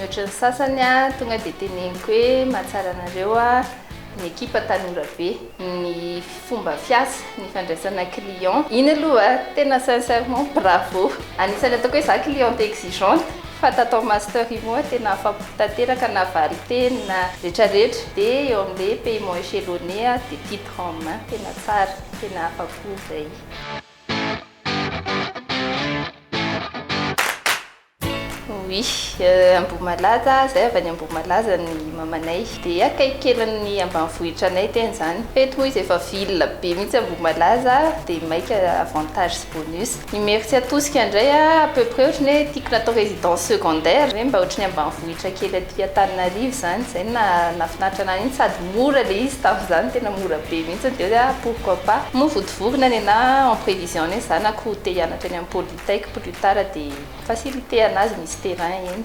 Mihoatra ny sasany aho tonga dia teneniko hoe mahatsara anareo ny ekipa Tanora be. fomba fiasa, ny fandraisana client. Iny aloha tena sincèrement bravo! Anisan'ny ataoko hoe za cliente exigeante fa tato amin'ny master io moa tena afa-po tanteraka na valin-teny na retraretra dia eo amin'ilay paiement echelonné aho dia titre en main tena tsara, tena afa-po izay. Oui, Ambohimalaza, zay avy any Ambohimalaza ny mamanay dia akaiky kely ny ambanivohitra anay tena zany, f'eto moa izy efa ville be mihitsy Ambohimalaza dia maika avantage sy bonus, Imeritsiatosika indray a à peu près ohatran'ny hoe tiako natao résidence secondaire hoe mba ohatran'ny ambanivohitra kely aty Antananarivo zany, zay no naha nahafinaritra anah mihitsy sady mora le izy tamin'izany tena mora be mihitsy dia hoe ah pourquoi pas, moa votovorina nenah en prévision ny hoe zanako te hianatra eny amin'ny poly. Dès que plus tard dia faciliter-na azy misy terrain eny.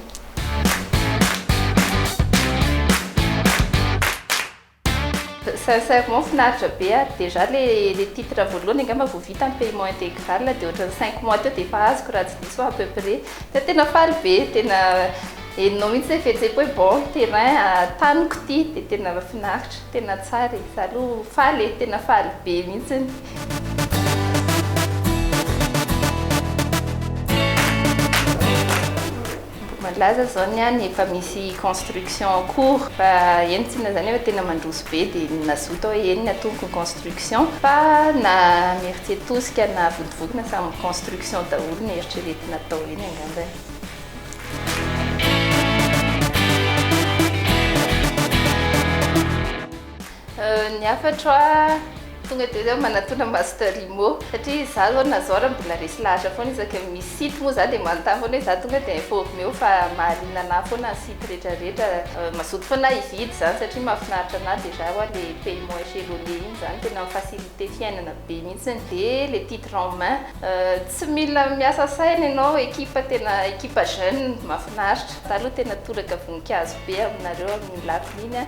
Sincèrement finaritra be ary déjà le le titre voalohany angamba vao vita ny paiement intégral dia ohatran'ny cinq mois teo dia efa azoko raha tsy diso aho à peu près dia tena faly be tena henonao mihitsy hoe fihetseham-po hoe bon terrain taniko ity dia tena finaritra tena tsara e! za aloha faly e! tena faly be mihitsy. Malaza zao ny any efa misy construction en cours fa entina zany efa tena mandroso be dia ny mazoto hoe eny ny atomboky ny construction fa na mertier tosika na votovokona samy construction daholo ny eritreretina atao eny angambany. Ny hafatro a, tonga dia zao manatona master imo satria za zao na zao ra mbola resy lahatra foana isaky ny misy site moa za dia manontany foana hoe za tonga dia informer-o fa mahaliana anah foana ny site rehetra rehetra, mazoto foana ah hividy zany satria mahafinaritra anah dia za wa le paiement echelonné iny zany tena mi faciliter fiainana be mihitsiny dia le titre en main tsy mila miasa saina ianao equipe tena equipe jeune mahafinaritra za aloha tena toraka voninkazo be aminareo amin'ny lafiny iny a